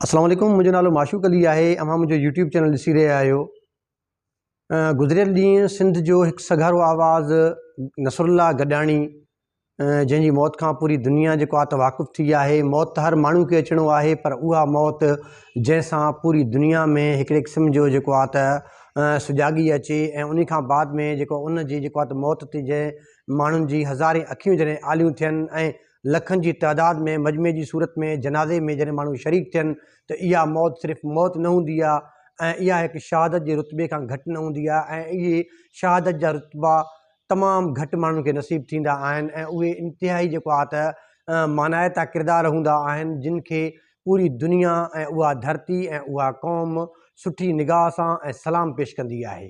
اسلام عليڪم منهنجو نالو معشوق علي آهي اوهان منهنجو يوٽيوب چينل ڏسي رهيا آهيو گذريل ڏينهن سنڌ جو هڪ سگهارو آواز نصر الله گڏاڻي جنهن جي موت کان پوري دنيا جيڪو آت واقف ٿي آهي موت ته هر ماڻهو کي اچڻو آهي پر اها موت جنهن سان پوري دنيا ۾ هڪڙي قسم جو جيڪو آت سجاڳي اچي ۽ ان کان بعد ۾ جيڪو ان جي جيڪو آت موت تي جنهن ماڻهن جي هزارين اکيون جڏهن آليون ٿين ۽ لکن جي تعداد ۾ مجمعي جي صورت ۾ جنازي ۾ جڏهن ماڻهو شريڪ ٿين ته اها موت صرف موت نه هوندي آهي ۽ اها هڪ شهادت جي رتبي کان گهٽ نه هوندي آهي ۽ اهي شهادت جا رتبا تمام گهٽ ماڻهن کي نصيب ٿيندا آهن ۽ اهي انتهائي جيڪو آهي ته مانائتا ڪردار هوندا آهن جن کي پوري دنيا ۽ اها ڌرتي ۽ اها قوم سٺي نگاهه سان ۽ سلام پيش ڪندي آهي.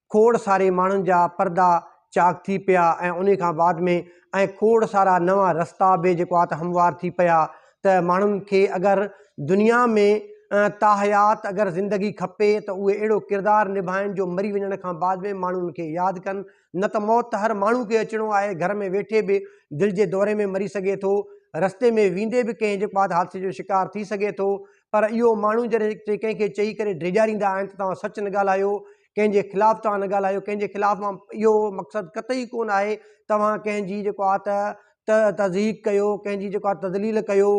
کوڙ ساري ماڻهن جا پردا چاڪ ٿي پيا ۽ انهي کان بعد ۾ ۽ کوڙ سارا نوان رستا به جيڪو آ ته هموار ٿي پيا ته ماڻهن کي اگر دنيا ۾ تاحيات اگر زندگي کپي ته اهي اهڙو ڪردار نڀائن جو مري وڃڻ کان بعد ۾ ماڻهو ان کي ياد ڪن نه ته موت ته هر ماڻهو کي اچڻو آهي گهر ۾ ويٺي به دل جي دوري ۾ مري سگهي ٿو رستي ۾ ويندي به ڪنهن جيڪو آ ته حادثي جو شڪار ٿي سگهي ٿو پر اهو ماڻهو جڏهن ڪنهن کي چئي ڪري ڊيڄاريندا آهن ته توهان سچ نه ڳالهايو ڪنهن جي خلاف توهان نه ڳالهايو ڪنهن جي خلاف مان اهو مقصد قطعي ڪونه آهي توهان ڪنهن جي جيڪو آ ته ته تضحيق ڪيو ڪنهن جي جيڪو آ تذليل ڪيو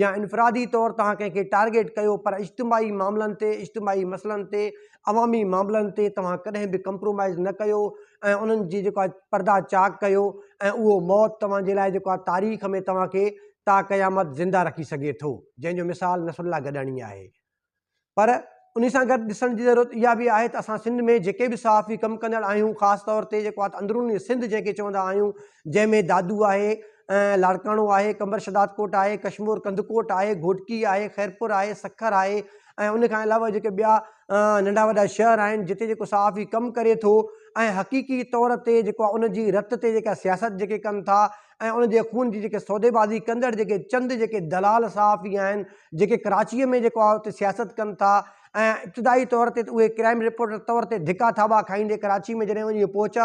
يا انفرادي طور توهان ڪنهن کي ٽارگيٽ ڪيو پر اجتماعي معاملن تي اجتماعي مسئلن تي عوامي معاملن تي توهان ڪڏهن به ڪمپرومائز نه ڪيو ۽ انهن جي جيڪو آ پردا چاڪ ڪيو ۽ اهو موت توهان جي لاء جيڪو آ تاريخ ۾ توهان کي تا قيامت زنده رکي سگهي ٿو جنهن جو مثال نصرالله گڏاڻي آهي پر انهي سان گڏ ڏسڻ جي ضرورت اها به آهي ته اسان سنڌ ۾ جيڪي به صحافي ڪم ڪندڙ آهيون خاص طور تي جيڪو اندروني سنڌ جنهن کي چوندا آهيون جنهن ۾ دادو آهي لاڙڪاڻو آهي قمبر شهدادڪوٽ آهي ڪشمور ڪنڌڪوٽ آهي گهوٽڪي آهي خيرپور آهي سکر آهي ۽ ان کان علاوه جيڪي ٻيا ننڍا وڏا شهر آهن جتي جيڪو صحافي ڪم ڪري ٿو ۽ حقيقي طور تي جيڪو ان جي رت تي جيڪا سياست جيڪي ڪن ٿا ۽ ان جي خون جي جيڪي سوديبازي ڪندڙ جيڪي چند جيڪي دلال صحافي آهن جيڪي ڪراچيء ۾ جيڪو آهي اتي سياست ڪن ٿا ۽ ابتدائي طور تي ته اهي ڪرائيم رپورٽر طور تي ڌڪا ٿاٻا کائيندي ڪراچي ۾ جڏهن وڃي پهچا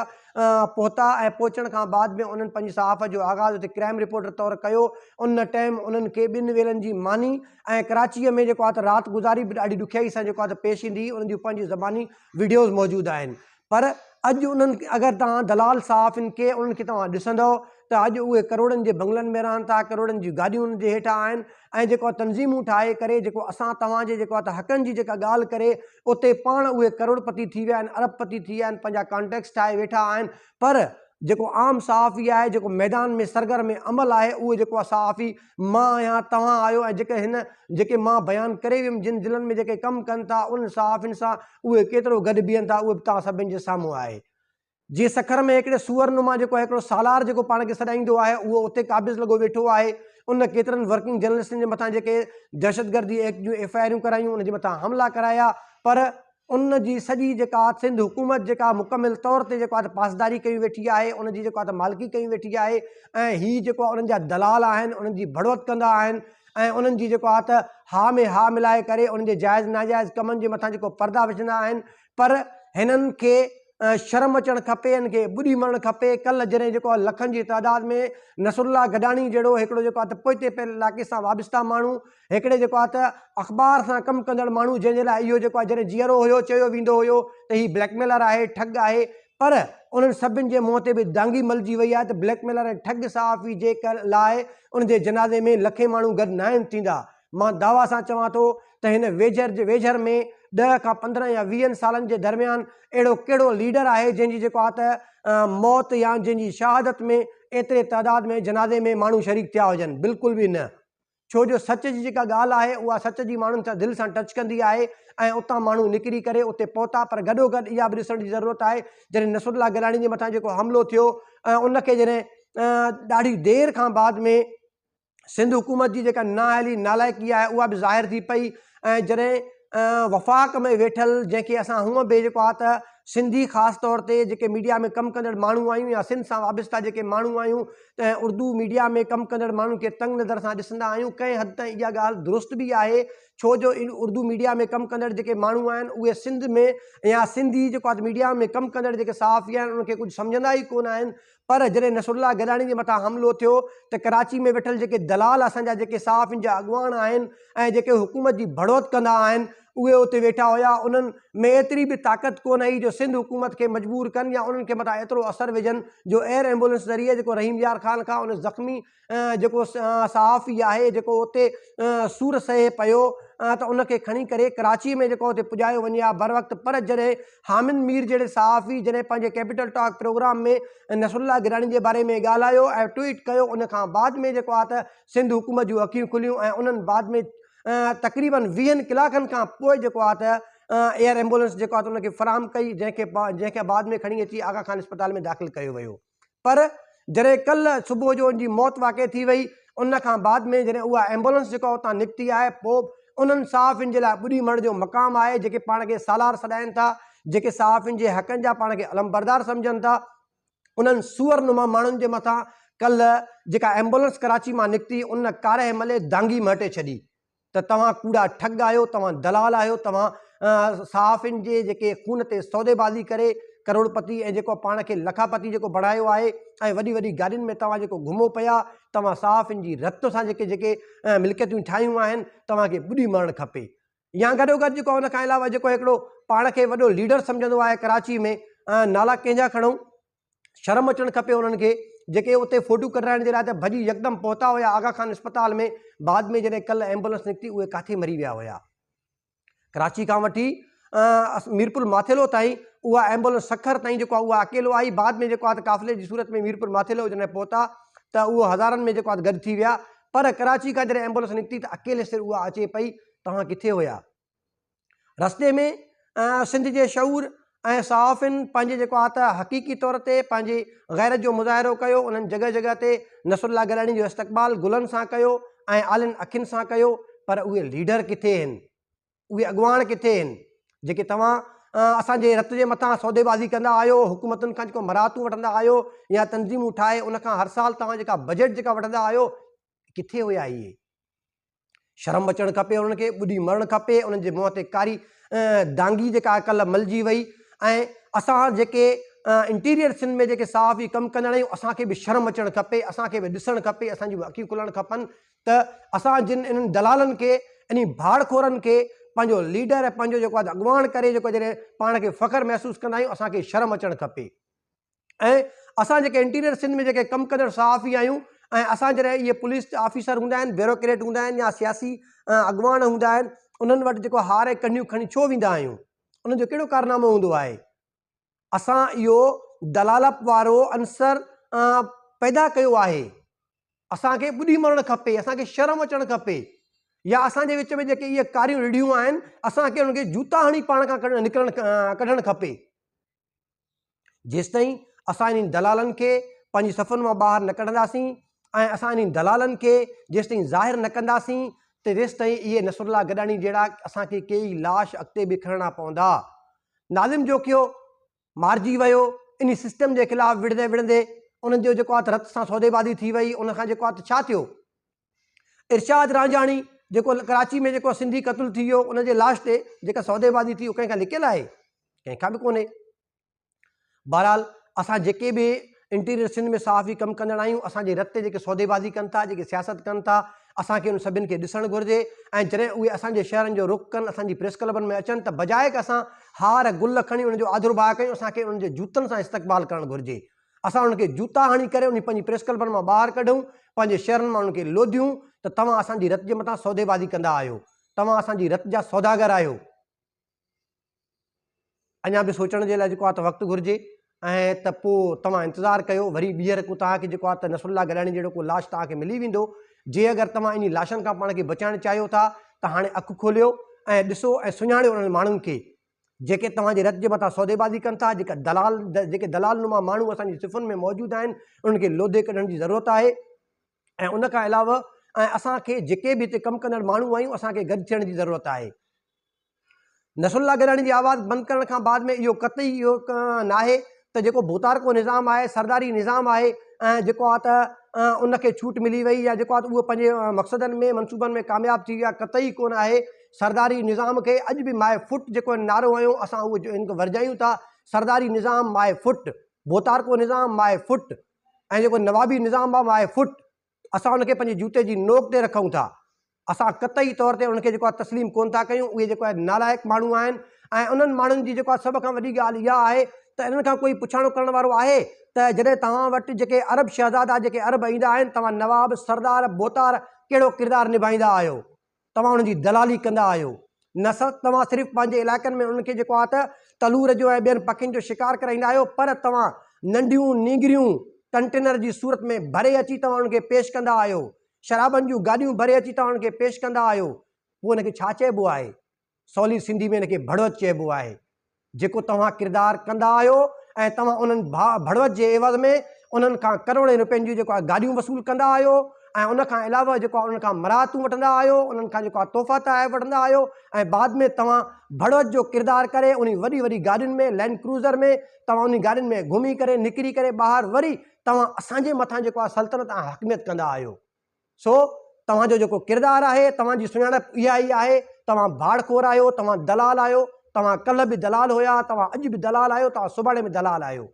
پهتا ۽ پهچڻ کان بعد ۾ انهن پنهنجي صحافت جو آغاز اتي ڪرائيم رپورٽر طور ڪيو ان ٽائيم انهن کي ٻن ويلن جي ماني ۽ ڪراچيء ۾ جيڪو آهي ته رات گذاري به ڏاڍي ڏکيائي سان جيڪو آهي ته پيش ايندي هئي ان جون پنهنجي زباني وڊيوز موجود آهن پر اڄ انهن اگر توهان دلال صحافين کي انهن کي توهان ڏسندؤ ته اڄ اهي ڪروڙن جي بنگلن ۾ رهن ٿا ڪروڙن جون گاڏيون انهن جي هيٺان آهن ۽ جيڪو تنظيمون ٺاهي ڪري جيڪو اسان توهان جي جيڪو ته حقن جي جيڪا ڳالهه ڪري اتي پاڻ اهي ڪروڙ پتي ٿي ويا آهن ارب پتي ٿي ويا آهن پنهنجا ڪانٽيڪس ٺاهي ويٺا آهن پر جيڪو عام صحافي آهي جيڪو ميدان ۾ سرگرم عمل آهي اهو جيڪو صحافي مان آهيان، توهان آهيو ۽ جيڪي هن جيڪي مان بيان ڪري ويم جن دلن ۾ جيڪي ڪم ڪن ٿا انهن صحافين سان اهي ڪيترو گڏ بيهن ٿا اهو به توهان سڀني جي سامهون آهي. جي سکر ۾ هڪڙي سوئر نما جيڪو آهي هڪڙو سالار جيڪو پاڻ کي سڏائيندو آهي اهو اتي قابض لڳو ويٺو آهي ان ڪيترن ورڪنگ جرنلسٽن جي مٿان جيڪي دهشتگردي ايڪٽ جون ايف آء آريون ڪرايون ان جي مٿان حملا ڪرايا پر ان جي سڄي جيڪا سنڌ حڪومت جيڪا مڪمل طور تي جيڪو آهي پاسداري ڪئي ويٺي آهي ان جي جيڪو آهي مالڪي ڪئي ويٺي آهي ۽ هي جيڪو آهي انهن جا دلال آهن انهن جي ڀڙوت ڪندا آهن ۽ انهن جي جيڪو آهي ته ها ۾ ها ملائي ڪري انهن جي جائز ناجائز ڪمن جي مٿان جيڪو پردا وجهندا آهن پر هنن کي شرم اچڻ کپي هن کي ٻڏي مرڻ کپي ڪل جڏهن جيڪو آهي لکن جي تعداد ۾ نصرالله گڏاڻي جهڙو هڪڙو جيڪو آهي ته پوئتي پيل علائقي سان وابسته ماڻهو هڪڙي جيڪو آهي ته اخبار سان ڪم ڪندڙ ماڻهو جنهن جي لاء اهو جيڪو آهي جڏهن جيئرو هيو چيو ويندو هيو ته هي بليڪ ميلر آهي ٺڳ آهي پر انهن سڀن جي منهن تي به دانگي ملجي وئي آهي ته بليڪ ميلر ۽ ٺڳ صحافي جي لاء ان جي جنازي ۾ لکين ماڻهو گڏ ناهن ٿيندا مان دعويٰ سان چوان ٿو ته هن ويجهر جي ويجهر ۾ ڏهه کان پندرهن يا ويهن سالن جي درميان اهڙو ڪهڙو ليڊر آهي جنهن جي جيڪو آهي ته موت يا جنهن جي شهادت ۾ ايتري تعداد ۾ جنازي ۾ ماڻهو شريڪ ٿيا هجن بلڪل به نه ڇو جو سچ جي جيڪا ڳالهه آهي اها سچ جي ماڻهن سان دل سان ٽچ ڪندي آهي ۽ اتان ماڻهو نڪري ڪري اتي پهتا پر گڏوگڏ اها به ڏسڻ جي ضرورت آهي جڏهن نصرت الله گيلاڻي جي مٿان جيڪو حملو ٿيو ۽ ان کي جڏهن ڏاڍي دير کان بعد ۾ سنڌ حڪومت جي جيڪا نااهلي نالائقي آهي اها به ظاهر ٿي پئي ۽ جڏهن وفاق ۾ ويٺل جنهن کي اسان هونء به جيڪو آهي ته سنڌي خاص طور تي جيڪي ميڊيا ۾ ڪم ڪندڙ ماڻهو آهيون يا سنڌ سان وابسته جيڪي ماڻهو آهيون ته اردو ميڊيا ۾ ڪم ڪندڙ ماڻهن کي تنگ نظر سان ڏسندا آهيون ڪنهن حد تائين اها ڳالهه درست به آهي ڇو جو ان اردو ميڊيا ۾ ڪم ڪندڙ جيڪي ماڻهو آهن اهي سنڌ ۾ يا سنڌي جيڪو آهي ميڊيا ۾ ڪم ڪندڙ جيڪي صحافي آهن انهن کي ڪجهه سمجهندا ئي ڪونه آهن پر جڏهن نصرالله گڏاڻي جي مٿان حملو ٿيو ته ڪراچي ۾ ويٺل جيڪي دلال اسان جا جيڪي صحافين جا اڳواڻ آهن ۽ جيڪي حڪومت جي ڀڙوت ڪندا آهن اهي اتي ويٺا هيا انهن ۾ ايتري به طاقت ڪونه هئي جو سنڌ حڪومت کي مجبور ڪن يا انهن کي مٿان ايترو اثر وجهن جو ايئر ايمبولنس ذريعي جيڪو رحيم يار خان کان ان زخمي جيڪو صحافي آهي جيڪو اتي سور سهي پيو ته ان کي کڻي ڪري ڪراچيء ۾ جيڪو اتي پڄايو وڃي ها بروقت پر جڏهن حامد مير جهڙي صحافي جڏهن پنهنجي Capital Talk programme ۾ Nasrullah Gilani جي باري ۾ ڳالهايو ۽ ٽوئيٽ ڪيو ان کان بعد ۾ جيڪو آهي ته سنڌ حڪومت جون اکيون کليون ۽ انهن بعد ۾ تقريباً ويهن ڪلاڪن کان پوء جيڪو آهي ته ايئر ايمبولنس جيڪو آهي ته ان کي فراهم ڪئي جنهن کي جنهن کي بعد ۾ کڻي اچي آغا خان اسپتال ۾ داخل ڪيو ويو. پر جڏهن ڪلهه صبح جو ان جي موت واقع ٿي وئي ان کان بعد ۾ جڏهن اها ايمبولنس جيڪا اتان نڪتي آهي پوء به انهن صحافين جي لاء ٻڏي مڙهه جو مقام آهي جيڪي پاڻ کي سالار سڏائين ٿا جيڪي صحافين جي حقن جا پاڻ کي علمبردار سمجهن ٿا انهن سوئر نما ماڻهن جي مٿان ڪلهه جيڪا ايمبولنس ڪراچي مان نڪتي ان ڪارهه ملي دانگي مهٽي ڇڏي. ته توهان ڪوڙا ٺڳ آهيو، توهان دلال آهيو، توهان صحافين جي جيڪي خون تي سوديبازي ڪري ڪروڙپتي ۽ جيڪو پاڻ کي لکاپتي جيڪو بڻايو آهي ۽ وڏي وڏي گاڏين ۾ توهان جيڪو گهمو پيا، توهان صحافين جي رت سان جيڪي جيڪي ملڪيتون ٺاهيون آهن، توهان کي ٻڏي مرڻ کپي. يا گڏوگڏ جيڪو ان کان علاوه جيڪو هڪڙو پاڻ کي وڏو ليڊر سمجهندو آهي ڪراچي ۾ نالا ڪنهن جا کڻون؟ شرم اچڻ کپي انهن کي جيڪي اتي فوٽو ڪڍرائڻ جي لاء ته ڀڄي يڪدم پهتا هيا آغا خان اسپتال ۾ بعد ۾ جڏهن ڪلهه ايمبولنس نڪتي اهي ڪاٿي مري ويا هيا ڪراچي کان وٺي ميرپور ماٿيلو تائين اها ايمبولنس سکر تائين جيڪو اها اڪيلو آئي بعد ۾ جيڪو آهي قافلي جي صورت ۾ ميرپور ماٿيلو جڏهن پهتا ته اهو هزارن ۾ جيڪو آهي گڏ ٿي ويا پر ڪراچي کان جڏهن ايمبولنس نڪتي ته اڪيلي سر اها اچي پئي توهان ڪٿي هيا رستي ۾ سنڌ جي شعور ۽ صحافين پنهنجي جيڪو آ ته حقيقي طور تي پنهنجي غيرت جو مظاهرو ڪيو انهن جڳهه جڳهه تي نصر الله گيلاڻي جو استقبال گلن سان ڪيو ۽ آلين اکين سان ڪيو پر اهي ليڊر ڪٿي هن اهي اڳواڻ ڪٿي هن جيڪي توهان اسان جي رت جي مٿان سوديبازي ڪندا آهيو حڪومتن کان جيڪو مراعتون وٺندا آهيو يا تنظيمون ٺاهي ان کان هر سال توهان جيڪا بجيٽ جيڪا وٺندا آهيو ڪٿي هيا اهي؟ شرم اچڻ کپي انهن کي، ٻڏي مرڻ کپي انهن جي منهن تي ڪاري دانگي جيڪا ڪلهه ملجي وئي ۽ اسان جيڪي انٽيريئر سنڌ ۾ جيڪي صحافي ڪم ڪندڙ آهيون اسان کي به شرم اچڻ کپي، اسان کي به ڏسڻ کپي، اسان جون به اکيون کلڻ کپن ته اسان جن انهن دلالن کي، انهي ڀاڙ خورن کي پنهنجو ليڊر ۽ پنهنجو جيڪو آهي اڳواڻ ڪري جيڪو جڏهن پاڻ کي فخر محسوس ڪندا آهيون اسان کي شرم اچڻ کپي. ۽ اسان جيڪي انٽيريئر سنڌ ۾ جيڪي ڪم ڪندڙ صحافي آهيون ۽ اسان جڏهن اهي پوليس جا آفيسر هوندا آهن، بيوروڪريٽ هوندا آهن يا سياسي اڳواڻ هوندا آهن انهن وٽ جيڪو هار ۽ ڪنڍيون کڻي ڇو ويندا آهيون؟ انهن جو ڪهڙو ڪارنامو هوندو آهي؟ اسان اهو دلالپ وارو عنصر پيدا ڪيو آهي، اسان کي ٻڏي مرڻ کپي، اسان کي شرم اچڻ کپي يا اسان جي وچ ۾ جيڪي اهي ڪاريون رڍيون آهن اسان کي انهن کي جوتا هڻي پاڻ کان نڪرڻ ڪڍڻ کپي. جيستائين اسان انهن دلالن کي پنهنجي صفن مان ٻاهر نه ڪڍنداسين ۽ اسان انهن دلالن کي جيستائين ظاهر نه ڪنداسين ته تيستائين اهي نصرالله گڏاڻي جهڙا اسان کي ڪيئي لاش اڳتي به کڻڻا پوندا. ناظم جوکيو مارجي ويو، انهي سسٽم جي خلاف وڙهندي وڙهندي انهن جو جيڪو آ ته رت سان سوديبازي ٿي وئي، ان کان جيڪو آ ته ڇا ٿيو؟ ارشاد رانجهاڻي جيڪو ڪراچي ۾ جيڪو سنڌي قتل ٿي ويو ان جي لاش تي جيڪا سوديبازي ٿي اهو ڪنهن کان لڪيل آهي ڪنهن کان به ڪونهي بهرحال اسان جيڪي به انٽيريئر سنڌ ۾ صحافي ڪم ڪندڙ آهيون اسان جي رت تي جيڪي سوديبازي ڪن ٿا جيڪي سياست ڪن ٿا اسان کي ان سڀن کي ڏسڻ گهرجي ۽ جڏهن اهي اسان جي شهرن جو رخ ڪن اسان جي پريس ڪلبن ۾ اچن ته بجائڪ اسان هار گل کڻي ان جو آڌرڀاء ڪيون اسان کي ان جي جوتن سان استقبال ڪرڻ گهرجي اسان انهن کي جوتا هڻي ڪري انهي پنهنجي پريس ڪلبن مان ٻاهر ڪڍون، پنهنجي شهرن مان انهن کي لوڌيون ته توهان اسان جي رت جي مٿان سوديبازي ڪندا آهيو، توهان اسان جي رت جا سوداگر آهيو. اڃا به سوچڻ جي لاء جيڪو آهي ته وقت گهرجي ۽ ته پوء توهان انتظار ڪيو وري ٻيهر ڪو توهان کي جيڪو آهي ته نصرالله گڏاڻي جهڙو ڪو لاش توهان کي ملي ويندو، جي اگر توهان انهي لاشن کان پاڻ کي بچائڻ چاهيو ٿا ته هاڻي اک کوليو ۽ ڏسو ۽ سڃاڻيو انهن ماڻهن کي جيڪي توهان جي رت جي مٿان سوديبازي ڪن ٿا، جيڪا دلال، جيڪي دلال نما ماڻهو اسان جي صفن ۾ موجود آهن، انهن کي لوڌي ڪڍڻ جي ضرورت آهي ۽ ان کان علاوه ۽ اسان کي جيڪي به هتي ڪم ڪندڙ ماڻهو آهيون، اسان کي گڏ ٿيڻ جي ضرورت آهي. نصرالله گيلاڻي جي آواز بند ڪرڻ کان بعد ۾ اهو قطعي اهو ناهي ته جيڪو ڀوتارڪو نظام آهي، سرداري نظام آهي ۽ جيڪو آهي ته ان کي ڇوٽ ملي وئي يا جيڪو آهي ته اهو پنهنجي مقصدن ۾ منصوبن ۾ ڪامياب ٿي ويو آهي، قطعي ڪونه آهي. سرداري نظام کي اڄ به مائي فٽ جيڪو نعرو هنيو اسان اهو ان کي ورجايون ٿا، سرداري نظام مائي فٽ، ڀوتارڪو نظام مائي فٽ ۽ جيڪو نوابي نظام آهي مائي فٽ. اسان ان کي پنهنجي جوتي جي نوڪ تي رکون ٿا. اسان قطعي طور تي انهن کي جيڪو آهي تسليم ڪونه ٿا ڪيون. اهي جيڪو آهي نالائق ماڻهو آهن ۽ انهن ماڻهن جي جيڪو آهي سڀ کان وڏي ڳالهه اها آهي ته انهن کان ڪوئي پڇاڻو ڪرڻ وارو آهي ته جڏهن توهان وٽ جيڪي عرب شهزادا جيڪي عرب ايندا آهن توهان نواب، سردار، بوتار ڪهڙو ڪردار نڀائيندا آهيو؟ توهان انهن جي دلالي ڪندا آهيو نه سر توهان صرف پنهنجي علائقن ۾ انهن کي جيڪو آهي ته تلور جو ۽ ٻين پکين جو شڪار ڪرائيندا آهيو پر توهان ننڍيون نينگريون ڪنٽينر جي صورت ۾ ڀري اچي توهان انهن کي پيش ڪندا آهيو شرابن جون گاڏيون ڀري اچي توهان انهن کي پيش ڪندا آهيو پوء ان کي ڇا چئبو آهي سولي سنڌي ۾ ان کي ڀڙوت چئبو آهي، جيڪو توهان ڪردار ڪندا آهيو ۽ توهان انهن ڀاء ڀڙوت جي عيوض ۾ انهن کان ڪروڙين روپين جون جيڪو آهي گاڏيون وصول ڪندا آهيو ۽ ان کان علاوه جيڪو آهي انهن کان مراعتون وٺندا آهيو، انهن کان جيڪو آهي تحفا تحائف وٺندا آهيو ۽ بعد ۾ توهان ڀڙوت جو ڪردار ڪري انهي وڏي وڏي گاڏين ۾ لينڊ ڪروزر ۾ توهان انهي گاڏين ۾ گهمي ڪري نڪري ڪري ٻاهر وري توهان اسان جي مٿان جيڪو آهي سلطنت ۽ حاڪميت ڪندا آهيو. سو توهان جو جيڪو ڪردار آهي، توهان جي سڃاڻپ اها ئي آهي، توهان ڀاڙ خور آهيو، توهان دلال آهيو، توهان ڪلهه به دلال هيا، توهان اڄ به دلال آهيو، توهان سڀاڻي به دلال آهيو.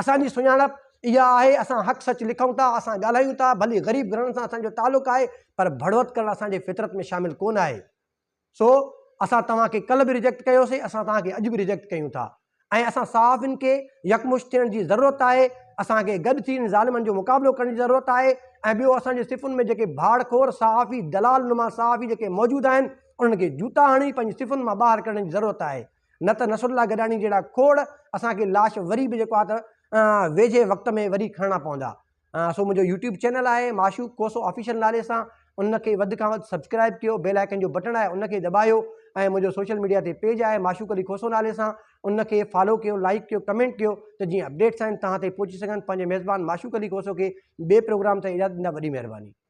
اسان جي سڃاڻپ اها آهي، اسان حق سچ لکون ٿا، اسان ڳالهايون ٿا، ڀلي غريب گھرڻن سان اسان جو تعلق آهي، پر ڀڙوت ڪرڻ اسان جي فطرت ۾ شامل ڪونه آهي. سو اسان توهان کي ڪلهه به ريجيڪٽ ڪيوسين اسان توهان کي اڄ به ريجيڪٽ ڪيون ٿا ۽ اسان صحافين کي يڪمشت ٿيڻ جي ضرورت آهي اسان کي گڏ ٿي ان ظالمن جو مقابلو ڪرڻ جي ضرورت آهي ۽ ٻيو اسان جي صفن ۾ جيڪي ڀاڙ خور صحافي دلال نما صحافي جيڪي موجود آهن انهن کي جوتا هڻي پنهنجي صفن مان ٻاهر ڪڍڻ جي ضرورت آهي نه ته نصرالله گڏاڻي جهڙا کوڙ اسان کي لاش وري به جيڪو آهي ته ويجهي وقت ۾ وري کڻڻا پوندا سو منهنجو يوٽيوب چينل آهي معشوق کوسو آفيشل نالي سان ان کي وڌ کان وڌ سبسڪرائب ڪيو بيل آئيڪن جو بٽڻ آهي ان کي دٻايو ۽ منهنجو سوشل ميڊيا تي پيج آهي معشوق علي کوسو نالي سان ان کي فالو ڪيو لائڪ ڪيو ڪمينٽ ڪيو ته جيئن اپڊيٽس آهن تهان تائين پهچي سگهن پنهنجي ميزبان معشوق علي کوسو کي ٻئي پروگرام تائين اجازت ڏيندا وڏي مهرباني